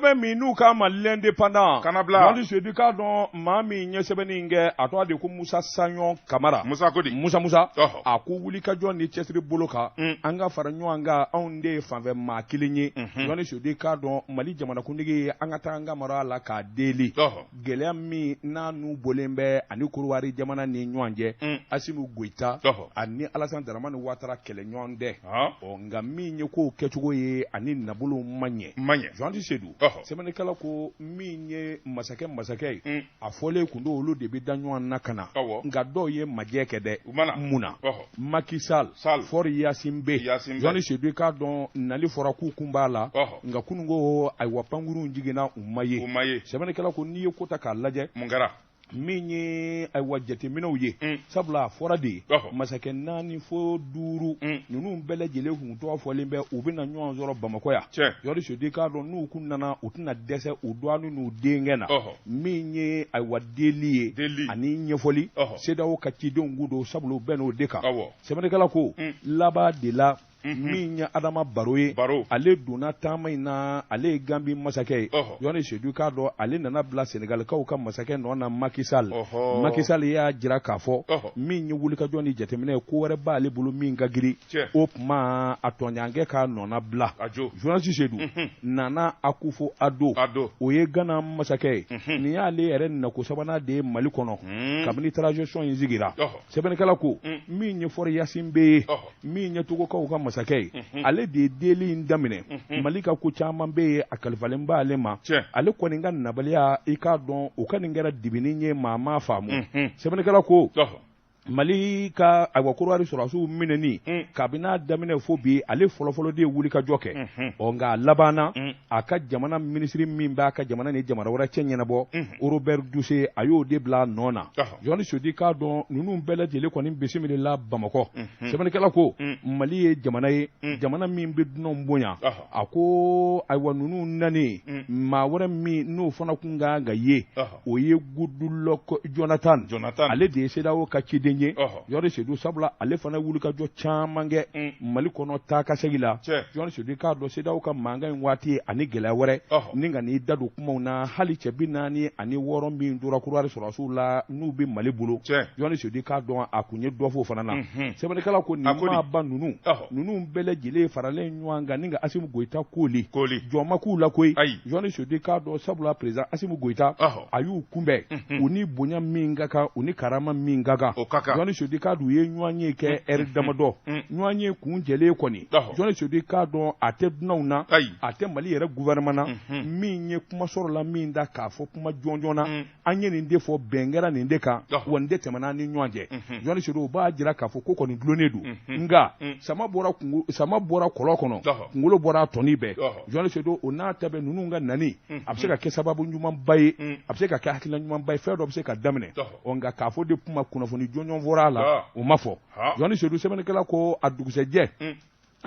bɛ min n'u k'a ma l'indépendant Jɔni Sedu i k'a dɔn maa min ye sɛbɛnni in kɛ a tɔgɔ de ko Musa Saɲɔn Kamara Musa ko di Musa Musa ɔhɔ a ko wulikajɔ ni cɛsiri bolo kan mm. an ka fara ɲɔgɔn kan anw de ye fanfɛ maa kelen ye Jɔni mhm. Sedu i k'a dɔn Mali jamanakuntigi an ka taa an ka mara la k'a deli ɔhɔ gɛlɛya min n'a n'u bɔlen bɛ a ni Korowari jamana ni ɲɔgɔn cɛ, un, Asimu Goyita ani Alasani Daramani Watara kɛlɛɲɔgɔn tɛ, ɔ nka min ye kow kɛcogo ye ani nabolow ma ɲɛ, ma ɲɛ, Juanti Sedu, ɔhɔ, sɛbɛnnikɛla ko min ye masakɛ masakɛ ye, un, a fɔlen tun don olu de bɛ da ɲɔgɔn na ka na, awɔ, nka dɔw ye majɛ kɛ dɛ, u ma na, mun na, ɔhɔ, Maki Sali, Sali, Fɔri Yasinbɛ, Yasinbɛ, Juanti Sedu i k'a dɔn nali fɔra k'u kun b'a la, ɔhɔ nka kunun ko ayiwa pankurunw jiginna u ma ye u ma ye sɛbɛnnikɛla ko n'i ye ko ta k'a lajɛ mun kɛra min ye ayiwa jateminɛw ye mm. sabula a fɔra de ye masakɛ naani fo duuru mm. ninnu bɛɛ lajɛlen kun tɔgɔ fɔlen bɛ u bɛna ɲɔgɔn sɔrɔ bamakɔ yan jɔni sedu i k'a dɔn n'u kun nana u tɛna dɛsɛ u dɔgɔnin n'u denkɛ na min ye ayiwa deli ye ani ɲɛfɔli sedawo ka cidenw kun don sabula u bɛnn'o de kan sɛbɛnnikɛla ko mm. laban de la min ye adama baro ye ale donna taama in na ale ye ganbi masakɛ ye jɔni sedu i k'a dɔn ale nana bila senegalikaw ka masakɛ nɔ na makisali makisali y'a jira k'a fɔ min ye wulikajɔ ni jateminɛ ye ko wɛrɛ b'ale bolo min ka giri o tuma a tɔɲɔgɔnkɛ k'a nɔna bila jɔni sedu nana akufo ado o ye gana masakɛ ye nin y'ale yɛrɛ nako sabanan de ye mali kɔnɔ kabini transition in sigira sɛbɛnnikɛla ko min ye fɔri yasinbɛ ye min ye togokaw ka masakɛ ye ale de ye deli in daminɛ mali ka ko caman bɛ yen a kalifalen b'ale ma ale kɔni ka nabaliya i k'a dɔn o kɔni kɛra dibini ye maa m'a faamu sɛbɛnnikɛla ko mali ka ayiwa korowari sɔrɔsiw minɛni kabini a daminɛ fo bi ale fɔlɔfɔlɔ de ye wulikajɔ kɛ ɔ nka a labanna a ka jamana minisiri min b'a ka jamana ni jamana wɛrɛ cɛ ɲɛnabɔ robert duse a y'o de bila a nɔ na jɔni sedu i k'a dɔn ninnu bɛɛ lajɛlen kɔni bisimilala bamakɔ sɛbɛnnikɛla ko mali ye jamana ye jamana min bɛ dunanw bonya a ko ayiwa ninnu nanen maa wɛrɛ min n'o fana tun ka kan ka ye o ye gudulɔkɔ jɔnatan jɔnatan ale de ye sedawo ka ciden ye jɔni sedu sabula ale fana wulikajɔ caman kɛ mm. mali kɔnɔ taa ka segi la jɔni sedu i k'a dɔn sedawo ka mankan in waati ye ani gɛlɛya wɛrɛ ni ka n'i da don kumaw na hali cɛ bi naani ani wɔɔrɔ min tora korowari sɔrɔsiw la n'u bɛ mali bolo jɔni sedu i k'a dɔn a kun ye dɔ f'o fana na mhm. sɛbɛnnikɛla ko nin maaba ninnu ninnu bɛɛ lajɛlen faralen ɲɔgɔn kan nka asimu goyita kɔni jɔn ma k'u la koyi jɔnni sedu i k'a dɔn sabula perezan asimi goyita a y'u kunbɛn u ni bonya min ka kan u ni karama min ka kan jɔnni sedu i k'a dɔn u ye ɲɔgɔnye kɛ ɛri damadɔ ɲɔgɔnye kun jɛlen kɔni jɔnni sedu i k'a dɔn a tɛ dunanw na a tɛ mali yɛrɛ gufɛrɛnaman na min ye kuma sɔrɔ la min da k'a fɔ kuma jɔnjɔn na an ye nin de fɔ bɛn kɛra nin de kan wa nin de tɛmɛna ni ɲɔgɔn cɛ jɔnni sedu o b'a jira k'a fɔ ko kɔni dulonnen don nka sama bɔra sama bɔra kɔlɔn kɔnɔ kunkolo bɔra a tɔni bɛɛ jɔnni sedu o n'a ta bɛɛ ninnu ka nali a bɛ se ka kɛ sababu ɲumanba ye a bɛ se ka kɛ hakilila ɲumanba ye fɛn dɔ bɛ se ka daminɛ ɔ nka k'a fɔ de kuma kunnafoni jɔnjɔn fɔra a la o ma fɔ jɔnni sedu sɛbɛnnikɛla ko a dugusɛjɛ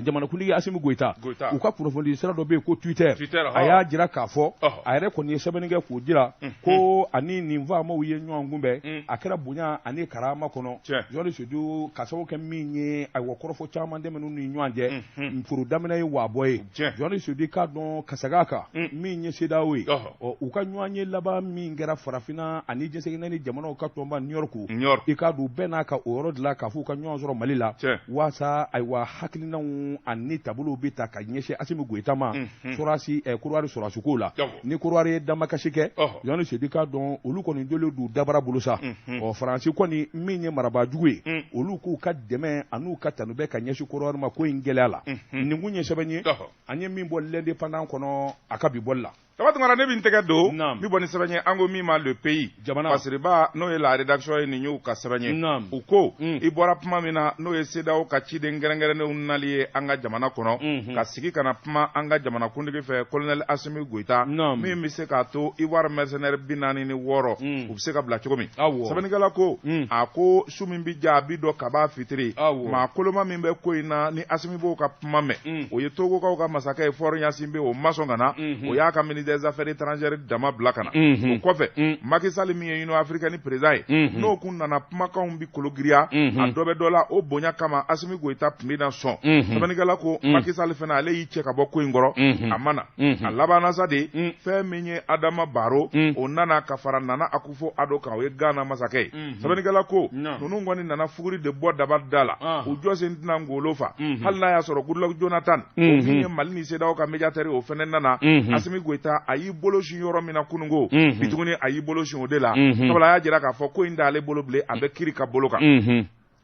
jamanakuntigi Asimi Goyita, Goyita, u ka kunnafonidi sira dɔ bɛ yen ko Twitter, Twitter a y'a jira k'a fɔ, ɔhɔ, a yɛrɛ kɔni ye sɛbɛnni kɛ k'o jira ko a ni nin faamaw ye ɲɔgɔn kunbɛn, un, a kɛra bonya ani karama kɔnɔ, tiɲɛ, Jɔni Sedu k'a sababu kɛ min ye ayiwa kɔrɔfɔ caman tɛmɛn'u ni ɲɔgɔn cɛ, unhun, foro daminɛ ye waabɔ ye, tiɲɛ, Jɔni Sedu i k'a dɔn kasaga kan, un, min ye CEDEAO ye, ɔhɔ ɔ u ka ɲɔgɔnye laban min kɛra farafinna ani diɲɛ seleke naani jamanaw ka tɔnba new york new york i k'a dɔn u bɛnna a kan o yɔrɔ de la k'a f'u ka ɲɔgɔn sɔrɔ mali la cɛ waasa ayiwa hakilinanw ani taabolow bɛ ta ka ɲɛsin asimi goyita ma sɔrɔdasi eh, kɔdiwari sɔrɔdasikow la ni kɔdiwari ye damakasi kɛ jɔnni sedu i k'a dɔn olu kɔni joli du dabara bolo sa ɔ faransi kɔni min ye marabaajugu ye mm. olu k'u ka dɛmɛ an'u ka tanu bɛ ka ɲɛsin kɔdiwari ma ko in gɛlɛya la nin kun ye sɛbɛn ye an ye min bɔ L'Indépendant kɔnɔ a ka bi bɔli la Daba Tunkara ne bɛ n tɛgɛ don n bɛ bɔ ni sɛbɛn ye an ko min ma le pays jamana fasiriba n'o ye la rédaction ye nin y'u ka sɛbɛn ye u ko mm. i bɔra kuma min na n'o ye CEDEAO ka ciden kɛrɛnkɛrɛnnenw nali ye an ka jamana kɔnɔ mm-hmm. ka sigi ka na kuma an ka jamanakuntigi fɛ colonel Asimi Goyita min bɛ se k'a to Ivoire mercenaire bi naani ni wɔɔrɔ mm. u bɛ se ka bila cogo min sɛbɛnnikɛla ko mm. a ko su min bɛ diya a bi dɔn kabi fitiri maa koloma min bɛ ko in na ni Asimi b'o ka kuma mɛn mm. o ye togokaw ka masakɛ ye Faure Gnassingbé o ma sɔn ka na mm-hmm. o y'a ka ministre des affaires étrangères dama bila ka na mm-hmm. o kɔfɛ mm. Macky Sall min ye Union africaine président ye mm-hmm. n'o kun nana kumakanw bi kologiriya a dɔ bɛ dɔ la o bonya kama Assimi Goïta tun bɛ na sɔn sɛbɛnnikɛla ko mm. Macky Sall fana ale y'i cɛ ka bɔ ko in kɔrɔ a ma na a labanna sa de fɛn min ye Adama Barrow o nana ka fara Nana Akufu fo ado kan o ye gana masakɛ ye mhm. sɛbɛnnikɛla ko ninnu kɔni nana fuguri de bɔ daba da la ah. u jɔsen tɛna ngolo fa mhm. hali n'a y'a sɔrɔ goodluck jonathan min mhm. ye mali ni sedaw ka médiatɛri o fɛnɛ nana asimi goyita a y'i bolo sin yɔrɔ min na kununko bi tuguni a y'i bolo sin o de la sabula a y'a jira k'a fɔ ko in t'ale bolo bilen a bɛ kiri ka bolo kan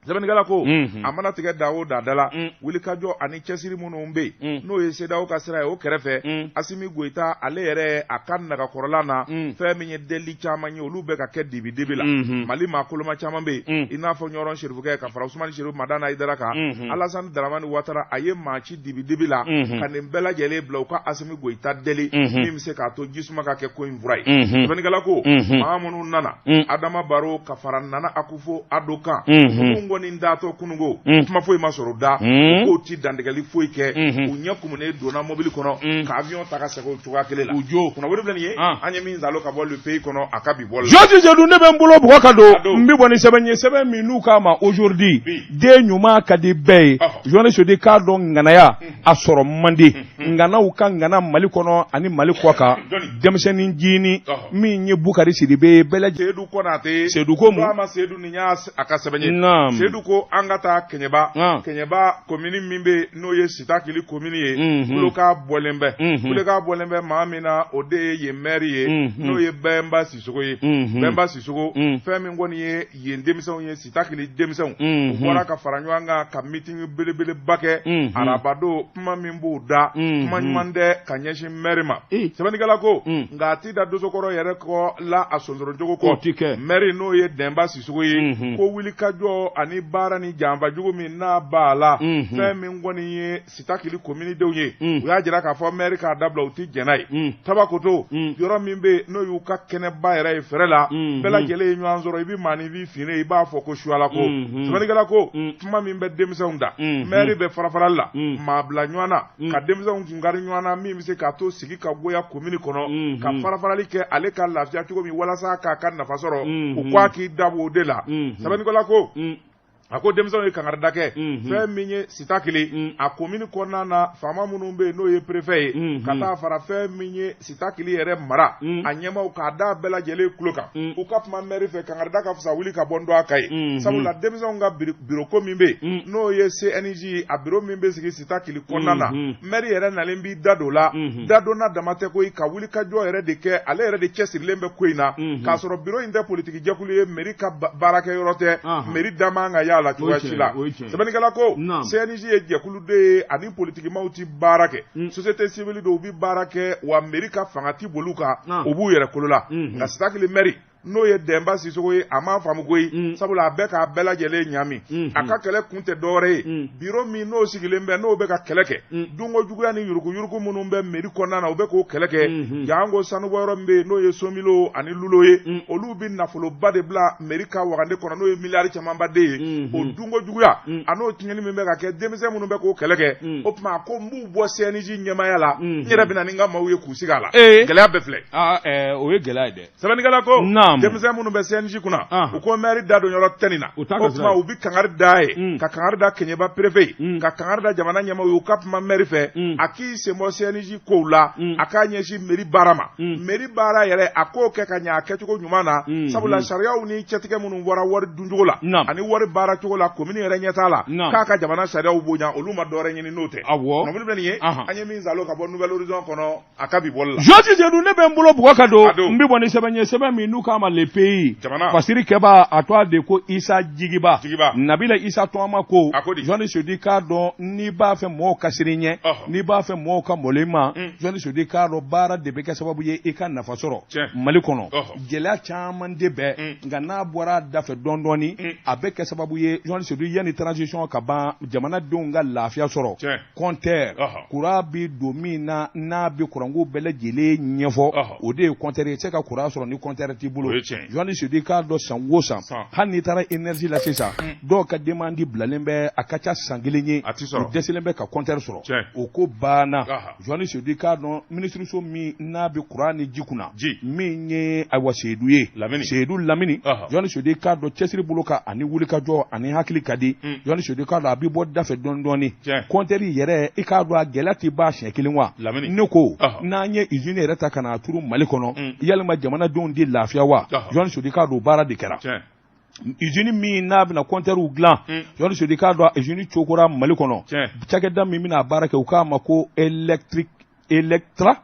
sɛbɛnnikɛla ko a mana tigɛ da o da da la wulikajɔ ani cɛsiri minnu bɛ yen n'o ye sedawo ka sira ye o kɛrɛfɛ asimi goyita ale yɛrɛ a ka nagakɔrɔla na fɛn min ye deli caman ye olu bɛ ka kɛ dibidibi la mali maa koloma caman bɛ yen i n'a fɔ ɲɔrɔn serifukɛ ka fara usumani serifu madani hayidara kan alasan daramani watara a ye maa ci dibidibi la ka nin bɛɛ lajɛlen bila u ka asimi goyita deli min bɛ se k'a to ji suma ka kɛ ko in fura ye sɛbɛnnikɛla ko maa minnu nana adama baro ka fara nana aku fo ado kan ninnu kɔni taatɔ kunun ko kuma foyi ma sɔrɔ u da u k'u tɛ dantigɛli foyi kɛ u ɲɛ kumunen donna mobili kɔnɔ ka awiyɔn ta ka segin cogoya kelen la o y'o kunnafoni de bilen ye an ye min sɔrɔ ka bɔ le pays kɔnɔ a ka bi bɔ jɔjijɛdu ne bɛ n bolo bugɔ ka don n bɛ bɔ ni sɛbɛn ye sɛbɛn min n'u k'a ma aujourd'hui den ɲuman ka di bɛɛ ye journaliste di k'a dɔn ŋanaya a sɔrɔ mande ŋanaw ka ŋana mali kɔnɔ ani mali kɔkan denmisɛnnin jinɛ min ye bukari sidibe bɛɛ lajɛlen sedu kɔnɔtɛ sedu ko ma sedu ni y'a a ka sɛbɛn sedu ko an ka taa kɛɲɛba kɛɲɛba komini min bɛ n'o ye sitakili komini ye kulekan bɔlen bɛ kulekan bɔlen bɛ maa min na o de ye yen mɛri ye n'o ye bɛnba sisogo ye bɛnba sisogo fɛn min kɔni ye yen denmisɛnw ye Sitakili denmisɛnw, unhun, u bɔra ka fara ɲɔgɔn kan ka meeting belebeleba kɛ, unhun, arabadon kuma min b'u da, unhun, kuma ɲuman tɛ ka ɲɛsin maire ma, ee, sɛbɛnnikɛla ko, un, nka a tɛ da dosokɔrɔ yɛrɛ kɔ la a sonsorocogo kɔ, o tɛ kɛ, maire n'o ye Denba Sisogo ye, unhun, ko wulikajɔ ani baara ni janfa jugu min n'a b'a la, unhun, fɛn min kɔni ye sitakili kominidenw ye u y'a jira k'a fɔ mɛri k'a dabila u tɛ jɛn n'a ye tabakoto yɔrɔ min bɛ yen n'o y'u ka kɛnɛba yɛrɛ ye fɛrɛ la bɛɛ lajɛlen ye ɲɔgɔn sɔrɔ i bɛ maa ni b'i fini i b'a fɔ ko suyala ko sɛbɛnnikɛla ko kuma min bɛ denmisɛnw da mɛri bɛ farafarali la maa bila ɲɔgɔn na ka denmisɛnw kun kari ɲɔgɔn na min bɛ se k'a to sigi ka goya komini kɔnɔ ka farafarali kɛ ale ka lafiya cogo min walasa k'a ka nafa sɔrɔ u k'a k'i dabɔ o de la sɛbɛnnikɛla ko a ko denmisɛnw ye kankarida kɛ mhm. fɛn min ye sitakili mm. a komini kɔnɔna na faama minnu bɛ yen n'o ye perefɛ ye mhm. ka taa fara fɛn min ye sitakili yɛrɛ mara mm. a ɲɛmaw k'a da bɛɛ lajɛlen tulo kan mm. u ka kuma mɛri fɛ kankarida ka fisa wuli ka bɔ n dɔgɔ kan ye mhm. sabula denmisɛnw ka biroko min bɛ yen n'o ye cnj ye a biro min bɛ sita Kili kɔnɔna na mɛri yɛrɛ nalen b'i da don la dadonna dama tɛ koyi ka wuli ka jɔ yɛrɛ de kɛ ale yɛrɛ de cɛsirilen bɛ ko in na k'a sɔrɔ biro in tɛ politigijɛkulu ye mɛri ka baarakɛ yɔrɔ tɛ mɛri da man kan ka y'a la cogoya si la sɛbɛnnikɛla ko cnj ye jɛkulu de ye ani politigimaw tɛ baara kɛ sosiyete siwili don u bɛ baara kɛ wa mɛri ka fanga tɛ bol'u kan u b'u yɛrɛ kolo la nka sitakili mɛri n'o ye dɛnba sisogo ye a m'a faamu koyi mm. sabula a bɛ k'a bɛɛ lajɛlen ɲami mm-hmm. a ka kɛlɛ kun tɛ dɔwɛrɛ ye mm. biro min n'o sigilen bɛ n'o bɛ ka kɛlɛ kɛ mm. dunko juguya ni yuruguyurugu minnu bɛ meri kɔnɔna na u bɛ k'o kɛlɛ kɛ mm-hmm. janko sanubɔ yɔrɔ min bɛ yen n'o ye somilo ani lulo ye olu bɛ nafoloba de bila meri ka wagande kɔnɔ n'o ye miliyari camanba de ye mm-hmm. o dunko juguya a n'o tiɲɛni min bɛ ka kɛ denmisɛn minnu bɛ k'o kɛlɛ kɛ o tuma ko n b'u bɔ CNJ ɲɛmaaya la n yɛrɛ bɛna ni n ka maaw ye k'u sigi a la eh. gɛlɛya bɛɛ filɛ ah, eh, o ye gɛlɛya ye dɛ sɛbɛnnikɛla ko Naamu. denmisɛn minnu bɛ CNJ kunna Ahan. u ko maire da don yɔrɔ tɛ nin na U t'a ka o sira tuma ye. u bɛ kangari da ye Mm. ka kangari da keɲeba perefe ye Mm. ka kangari da jamana ɲɛmaaw ye u ka kuma maire fɛ Mm. a k'i senbɔ CNJ kow la Mm. a k'a ɲɛsin mairie baara ma Mm. mairie baara yɛrɛ a k'o kɛ ka ɲɛ a kɛcogo ɲuman na Mm. sabula Mm. sariyaw ni cɛtigɛ minnu bɔra wari duncogo la Naamu. ani wari baara cogo la komini yɛrɛ ɲɛtaa la Naamu. k'a ka jamana sariyaw bonya olu ma dɔwɛrɛ ɲini n'o tɛ Awɔ. nɔbili bɛ nin ye Ahan. an ye min zalo ka bɔ nouvel horizon kɔnɔ a ka bi bɔli la jɔni seyidu ne bɛ n bolo bugɔ ka don n bɛ bɔ ni sɛbɛn ye sɛbɛn min n'u k'a ma le pays fasiri kɛbaa tɔgɔ de ko isa jigiba nabila isa tɔgɔma ko jɔni seyidu i k'a dɔn n'i b'a fɛ mɔgɔw ka siran i ɲɛ n'i b'a fɛ mɔgɔw ka malo i ma mm. jɔni seyidu i k'a dɔn baara de bɛ kɛ sababu ye i ka nafa sɔrɔ mali kɔnɔ gɛlɛya caman de bɛ yen mm. nka n'a bɔra a dafɛ dɔɔni dɔɔni mm. a bɛ kɛ sababu ye jɔni seyidu yanni transition ka ban jamanadenw ka lafiya sɔrɔ kɔntɛri kuran bɛ don min na n'a bɛ kuranko bɛɛ lajɛlen ɲɛfɔ o de ye kɔntɛri ye se ka kuran sɔrɔ ni kɔntɛri t'i bolo jɔni seyidu i k'a dɔn san o san hali n'i taara énergie la sisan dɔw ka demandi bilalen bɛ a ka ca san kelen ye u dɛsɛlen bɛ ka kɔntɛri sɔrɔ o ko banna jɔni seyidu i k'a dɔn minisiriso min n'a bɛ kuran ni ji kunna ji min ye ayiwa seyidu ye lamini seyidu lamini jɔni seyidu i k'a dɔn cɛsiri bolo kan ani wulikajɔ ani hakili ka di jɔni seyidu i k'a dɔn a bɛ bɔ da fɛ dɔɔni dɔɔni kɔntɛri yɛrɛ i k'a dɔn a gɛlɛya tɛ ban siɲɛ kelen wa lamini ne ko n'an ye izini yɛrɛ ta ka n'a turu mali kɔnɔ yalima jamanadenw de lafiya wa jɔni seyidu i k'a dɔn baara de kɛra izini min n'a bɛna kɔntɛriw dilan jɔni seyidu i k'a dɔn izini cokora mali kɔnɔ cakɛda min bɛna a baara kɛ u k'a ma ko electric electra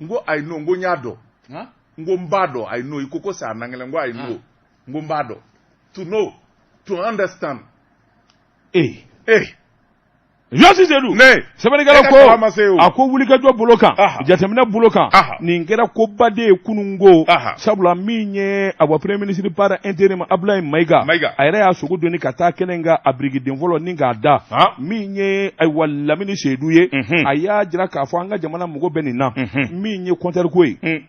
n ko I know n ko n y'a dɔn n ko n b'a dɔn I know i ko ko sa angilɛ n ko I know n ko n b'a dɔn to know to understand ee ee jɔni seyidu ne sɛbɛnnikɛla ko a ko wulikajɔ bolo kan jateminɛ bolo kan nin kɛra koba de ye kunun ko sabula min ye ayiwa premier ministre par intérim abdulayi mayiga a yɛrɛ y'a sogo doni ka taa kɛnɛ kan a birikiden fɔlɔ nin k'a da min ye ayiwa lamini seyidu ye a y'a jira k'a fɔ an ka jamana mago bɛ nin na min ye kɔntɛriko ye mm.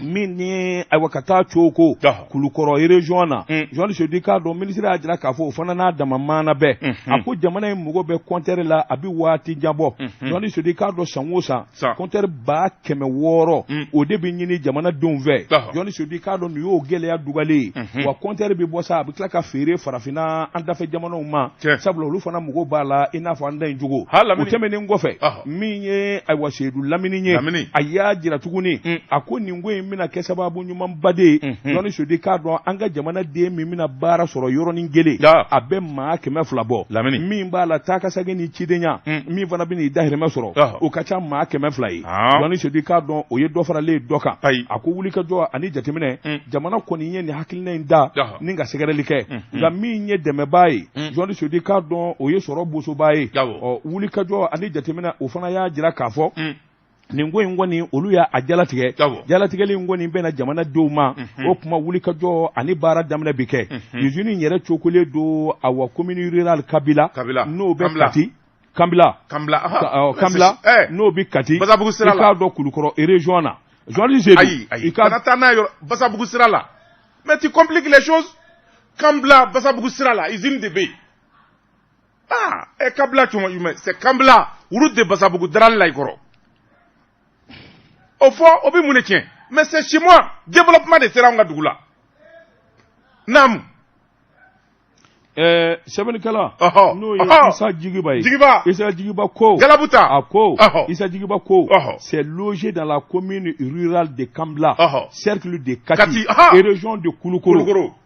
min ni ayiwa ka taa coko kulukɔrɔ irezɔn na mm. jɔni seyidu i k'a dɔn minisiri y'a jira k'a fɔ o fana n'a dama maana bɛɛ mm-hmm. a ko jamana in mago bɛ kɔntɛri la a bɛ waati jan bɔ jɔni mm-hmm. seyidu i k'a dɔn san o san Sa. kɔntɛri ba kɛmɛ wɔɔrɔ Mm. o de bɛ ɲini jamanadenw fɛ Ɔhɔ. jɔnni seyidu i k'a dɔn nin y'o gɛlɛya dugalen ye Mhm. wa kɔntɛri bɛ bɔ sa a bɛ tila ka feere farafinna an dafɛ jamanaw ma Tiɲɛ. sabula olu fana mago b'a la i n'a fɔ an da in cogo Ha, Lamini. o tɛmɛnen kɔfɛ Ɔhɔ. min ye ayiwa seyidu lamini ye Lamini. a y'a jira tuguni Mm. a ko nin ko in bɛna kɛ sababu ɲumanba de jɔnni seyidu i k'a dɔn an ka jamanaden min bɛna baara sɔrɔ yɔrɔnin kelen a bɛ maa kɛmɛ fila bɔ lamini min b'a la taa ka segin ni cidenya min fana bɛna i dahirimɛ sɔrɔ o ka ca maa kɛmɛ fila ye jɔnni seyidu i k'a dɔn o ye dɔ faralen ye dɔ kan ayi a ko wuli ka jɔ ani jateminɛ jamana kɔni ye nin hakilina in da ni ka sɛgɛrɛli kɛ nka min ye dɛmɛbaa ye jɔnni seyidu i k'a dɔn o ye sɔrɔ bosobaa ye wuli ka jɔ ani jateminɛ o fana y'a jira k'a fɔ nin ko in kɔni olu y'a jalatigɛ jalatigɛli in kɔni bɛna jamanadenw ma mhm. o kuma wuli ka jɔ ani baara daminɛ bɛ kɛ mhm. usine in yɛrɛ cokolen don awa commune rurale kambila n'o bɛ kati kambila kambila kambila eh. n'o bɛ kati i k'a dɔn kulukɔrɔ région na journaliste ayi ayi i kana taa n'a ye basabugu sira la mais tu compliques les choses kambila basabugu sira la usine de bɛ yen aa ɛ kambila cuma jumɛn c'est kambila route de basabugu darali la i kɔrɔ o fɔ o bɛ mun de tiɲɛ mais c'est chez moi développement de sera anw ka dugu la naamu ɛɛ sɛbɛnnikɛla ɔhɔ n'o ye ɔhɔ isa jigiba ye jigiba isa jigiba ko galabuta a ko Ɔhɔ. isa jigiba ko Ɔhɔ. c'est logé dans la commune rurale de kambila Ɔhɔ. cercle de kati Kati, aha. et région de kulukɔrɔ kulukɔrɔ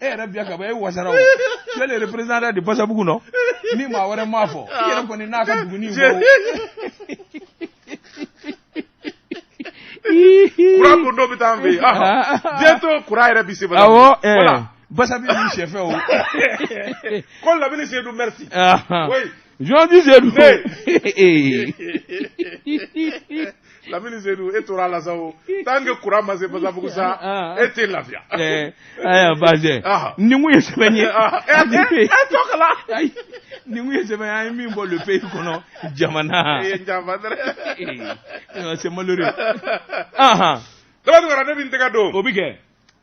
e yɛrɛ biya ka bɔ e wasara o cɛ le représentant de basabugu nɔ ni maa wɛrɛ m'a fɔ i yɛrɛ kɔni n'a ka duguni bɔ kuran ko dɔ bɛ taa an fɛ yen bientôt kuran yɛrɛ bi se bala awɔ basabi b'i sɛfɛ o ko labini sedu merci oui Zji sedu lamini seyidu tarawele sa tant que kuran ma se basabugu sa e tɛ lafiya ayiwa ba ye sɛbɛn ye ye sɛbɛn an ye min bɔ pe kɔnɔ jamana se ne bɛ tɛgɛ don o bɛ kɛ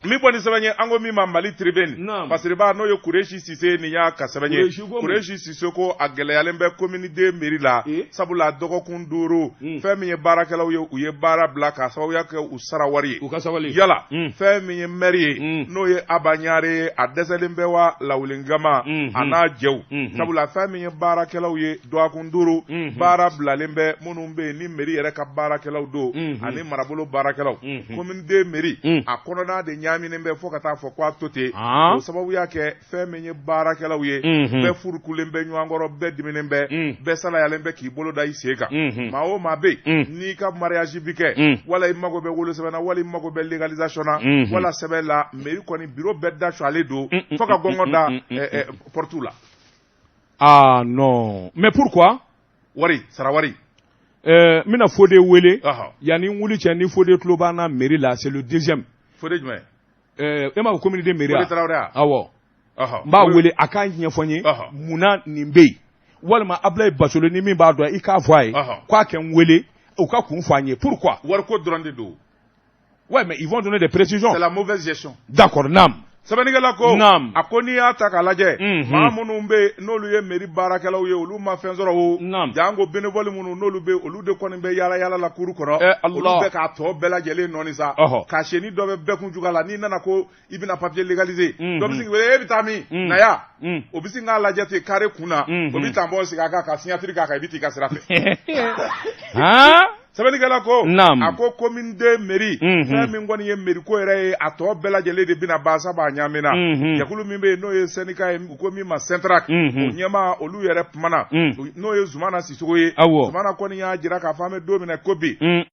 min kɔni sɛbɛn ye an ko min ma mali tribune masiriba n'o ye kuresi sise nin y'a ka sɛbɛn ye kuresi sise ko a gɛlɛyalen bɛ commune deux mairie la eh? sabula dɔgɔkun duuru hmm. fɛn min ye baarakɛlaw ye u ye baara bila k'a sababuya kɛ u sara wari ye u ka sabali yala hmm. fɛn min ye mɛri ye hmm. n'o ye aba ɲare ye a dɛsɛlen bɛ wa lawulingama a n'a jɛw sabula fɛn min ye baarakɛlaw ye dɔgɔkun duuru baara bilalen bɛ minnu bɛ yen ni mairie yɛrɛ ka baarakɛlaw don ani marabolo baarakɛlaw commune deux hmm. mairie hmm. a kɔnɔna de ɲaaminen bɛ fo ka t'a fɔ ko a to ten ah. o sababu y'a kɛ fɛn min ye baarakɛlaw ye hmm. bɛɛ furukulen bɛ ɲɔgɔn kɔrɔ bɛɛ diminen bɛ bɛɛ salayalen bɛ k'i bolo da i sen kan maa o maa bɛ n'i ka mariage bɛ kɛ wala i mago bɛ wolosɛbɛn na wala i mago bɛ légalisation na wala sɛbɛn la mairie kɔni bureau bɛɛ dasɔgɔlen don fo ka gɔngɔ da portew la aa ah, mais pourquoi wari sara wari ɛɛ n bɛna Fode wele yanni n wuli cɛ ni Fode tulo b'an na mairie la c'est le deuxième Fode jumɛn ɛɛ e m'a fɔ commune deux mairie wa Fode Tarawele wa awɔ n b'a wele a k'a ɲɛfɔ n ye munna nin bɛ yen walima Abilayi Basolo ni min b'a dɔn i k'a fɔ a ye k'a ka n wele u k'a kun fɔ an ye pourquoi wariko dɔrɔn de don Ouais, mais ils vont donner des précisions. C'est la mauvaise gestion. D'accord, nam. sɛbɛnnikɛla ko naam a ko n'i y'a ta k'a lajɛ mhm. maa minnu bɛ yen n'olu ye meri baarakɛlaw ye olu ma fɛn sɔrɔ o naam janko bénévole minnu n'olu bɛ olu de kɔni bɛ yaala yaala la cour kɔnɔ eh, olu bɛ k'a tɔ bɛɛ lajɛlen nɔɔni sa cachetnin dɔ bɛ bɛɛ kun jufa la n'i nana ko i bɛna papier légaliser mhm. dɔ bɛ sin k'i wele e bɛ taa min mhm. na yan mhm. o bɛ sin k'a lajɛ ten carré kun na o bɛ tampon sigi a kan ka signature k'a kan i bɛ t'i ka sira fɛ sɛbɛnnikɛla ko a ko commune deux mairie fɛn min kɔni ye mairie ko yɛrɛ ye a tɔ bɛɛ lajɛlen de bɛna ban sabu a ɲaamina jɛkulu min bɛ yen n'o ye syndicat ye u ko min ma SYNTRAC o ɲɛmaa olu yɛrɛ kumana n'o ye Zumana Sisoko ye Zumana kɔni y'a jira k'a fɔ an bɛ don min na ko bi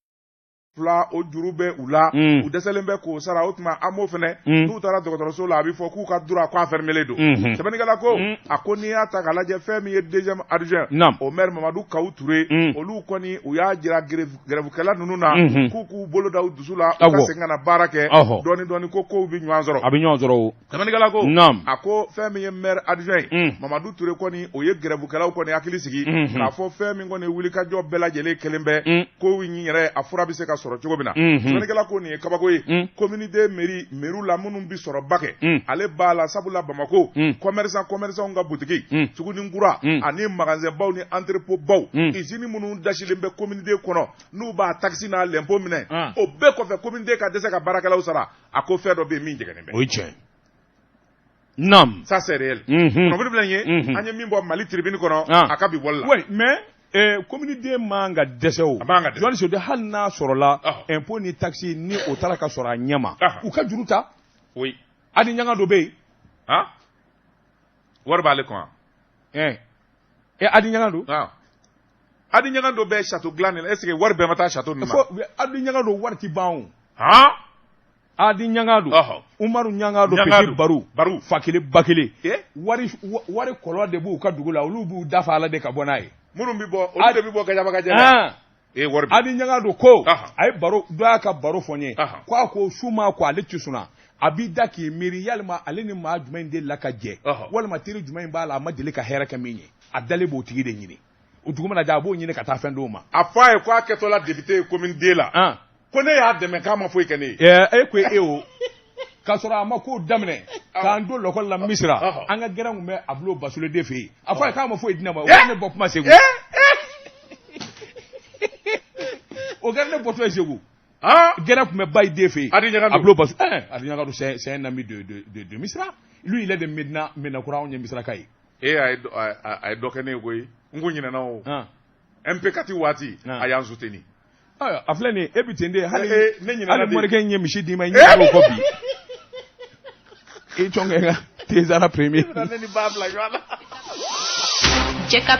fila o juru bɛ u la u dɛsɛlen bɛ k'o sara o tuma AMO fana n'u taara dɔgɔtɔrɔso la a bɛ fɔ k'u ka droit ko a fermélen don sɛbɛnnikɛla ko a ko n'i y'a ta ka lajɛ fɛn min ye deuxième adjoint au maire Mamadu Kawu Ture olu kɔni u y'a jira gɛrɛfukɛla ninnu na k'u k'u bolo da u dusu la u ka segin ka na baara kɛ dɔɔnin dɔɔnin ko kow bɛ ɲɔgɔn sɔrɔ a bɛ ɲɔgɔn sɔrɔ Sɛbɛnnikɛla ko, naamu, a ko fɛn min ye maire adjoint ye, un, Mamadu Ture kɔni o ye grèvekɛlaw kɔni hakili sigi, unhun, k'a fɔ fɛn min kɔni wulikajɔ bɛɛ lajɛlen kɛlen bɛ, un, ko in yɛrɛ a fura bɛ se ka sɔrɔ cogo min na, unhun, sɛbɛnnikɛla ko nin ye kabako ye, un, commune deux mairie mairie la minnu bɛ sɔrɔba kɛ, un, ale b'a la sabula Bamakɔ, un, commerçant commerçants ka boutique, un, suguni kura, un, ani magasin baw ni entrepôt baw, un, usine minnu dasilen bɛ commune deux kɔnɔ n'u b'a taxe n'a l'impôt minɛ, an, o bɛɛ kɔfɛ commune deux ka dɛsɛ ka baarakɛlaw sara a ko fɛn dɔ bɛ yen min jɛngɛnnen bɛ o ye tiɲɛ ye naam ça c'est réel Mhm. kunnafoni filɛ nin ye Mhm. an ye min bɔ Mali Tribune kɔnɔ Ah. a ka bi bɔli la oui mais eh, commune deux man ka dɛsɛ o A man ka dɛsɛ. Johannes Sode hali n'a sɔrɔla Ah. impôt ni taxe ni o taara ka sɔrɔ a ɲɛ ma Ah. u ka juru ta oui Hadi Ɲangado bɛ yen ah wari b'ale kun wa eh, eh, Hadi Ɲangado ah Adi Ɲagadu bɛ sato dilan nin ese wari bɛɛ ma taa sato nin Adi Ɲagadu wari ban Adi Ɲagadu Umaru Ɲagadu Baru Baru fa kelen ba kelen wari ko de b'u ka dugu la olu b'u dafa ala de ka bɔ n'a ye minnu bɛ bɔ de bɛ bɔ kɛjɛ Adi Ɲagadu ko a ye baro dɔ y'a ka baro fɔ n ye k' a ko su ma ko ale ci a b'i da k'i miiri yalima ale ni maa jumɛn in dela ka jɛ walima teri jumɛn in b'a la a ma deli ka hɛrɛ kɛ min ye a dalen b'o tigi de ɲini o dugu mana jɛ a b'o ɲini ka taa fɛn d'o ma a fɔ a ye ko a kɛtɔla député ye commune deux la an ko ne y'a dɛmɛ k'a ma foyi kɛ ne ye ɛɛ e ko e o k'a sɔrɔ a ma kow daminɛ k'an to lɔkɔli la misira ɔhɔ. an ka gɛrɛn tun bɛ a bulon basule de fɛ yen a fɔ a ye k'a ma foyi di ne ma o kɛra ne bɔ kuma segu o kɛra ne bɔtɔ ye segu an gɛrɛn tun bɛ bayi de fɛ yen Adi Ɲagadu. a bulon basu ɛɛ adi ɲagadu c'est c'est un ami de de de de misira lui il est de medina medinakura anw ye misiraka ye e a ye dɔ- a- a- a ye dɔ kɛ ne ye koyi n ko ɲinɛna o Han. mp kati waati Ah. a y'an suteni Ayiwa, a filɛ nin ye e bi ten de hali Eh, eh, ne ɲinɛna hali de. morikɛ in ye misi d'i ma i Eh, ɲɛ b'o kɔ bi i cɔnkɛ ka tezara premier ne ni ba bila ɲɔgɔn na Jɛka